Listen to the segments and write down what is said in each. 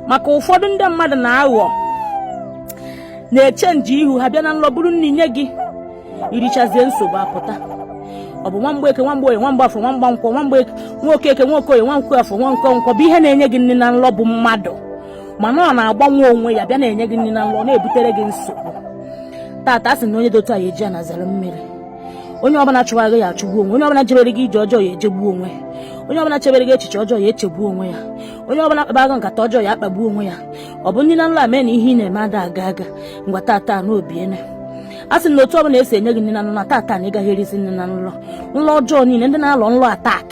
maka ụfọdụ ndị mmadụ na-aghọ na-echenji ihu ha bịa na nlọ buru nri nye gị irichazie nsogbu apụta ọ bụ nwamgbeke nwamgboye nwamgbafọ nwamgbankwọ nwamgbe nwokeke nwokoye nwankwafọ nwankwọ bụ ihe na-enye gị nri na nlọ bụ mmadụ mana ọ na-agbanwe onwe ya bịa na-enye gị nri na nlọ na-ebutere gị nsogbu tata a sị na onye dị otu a ya eji ana zere mmiri onye ọbụla chụwa gị ya achụgbu onwe onye ọbụla jebere gị ije ọjọọ ya ejegbu onwe onye ọbụla chebere gị echiche ọjọọ ya echegbu onwe ya onye ọbụla kpaba gị nkata ọjọọ ya akpagbu onwe ya ọ bụ nri na nlọ mee na ihe ị na-eme ada aga aga ngwa tata na o biene a sị na otu ọbụla esi enye gị nri na nlọ tata na ị gaghị erizi nri na nlọ nlọ ọjọọ niile ndị na-alọ nlọ attack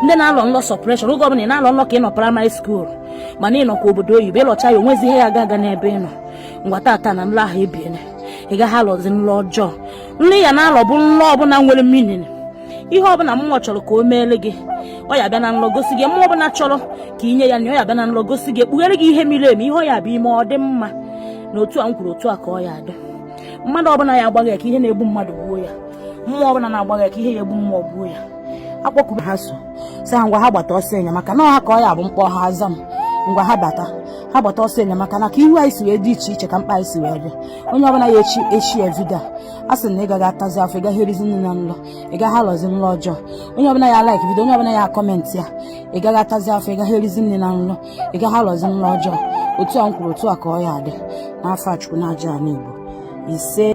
ndị na-alọ nlọ suppression oge ọbụla ị na-alọ nlọ ka ị nọ primary school mana ị nọkwa obodo oyibo ị lọcha ya o nwezi ihe ya aga aga n'ebe ị nọ ngwa tata na nlọ ahụ ebiene ị gaghị alọzi nlọ ọjọọ nlọ ị ya na-alọ bụ nlọ ọbụla nwere meaning ihe ọbụla mmụọ chọrọ ka o meere gị ọ ya bịa na nlọ gosi gị mmụọ ọbụla chọrọ ka i nye ya na ọ ya bịa na nlọ gosi gị ekpughere gị ihe miri emi ihe ọ ya bụ i me ọ dị mma na otu a m kwuru otu a ka ọ ya adị mmadụ ọbụla ya agbagha ka ihe na-egbu mmadụ gbuo ya mmụọ ọbụla na-agbagha ka ihe ya egbu mmụọ gbuo ya akpọkuba ha so sị ha ngwa ha gbata ọsọ enyemaka na ọ ha ka ọ ya bụ m kpọọ ha aza m ngwa ha bata ha gbata ọsọ enyemaka na ka ihu anyị si wee dị iche iche ka mkpa anyị si wee dị onye ọbụla ya eshare video a sị na ị gaghị atazi afọ ị gaghị erizi nri na nlọ ị gaghị alọzi nlọ ọjọọ onye ọbụla ya like video onye ọbụla ya comment ya ị gaghị atazi afọ ị gaghị erizi nri na nlọ ị gaghị alọzi nlọ ọjọọ otu a m kwuru otu a ka ọ ya adị n'afa chukwu na aja ani igbo ise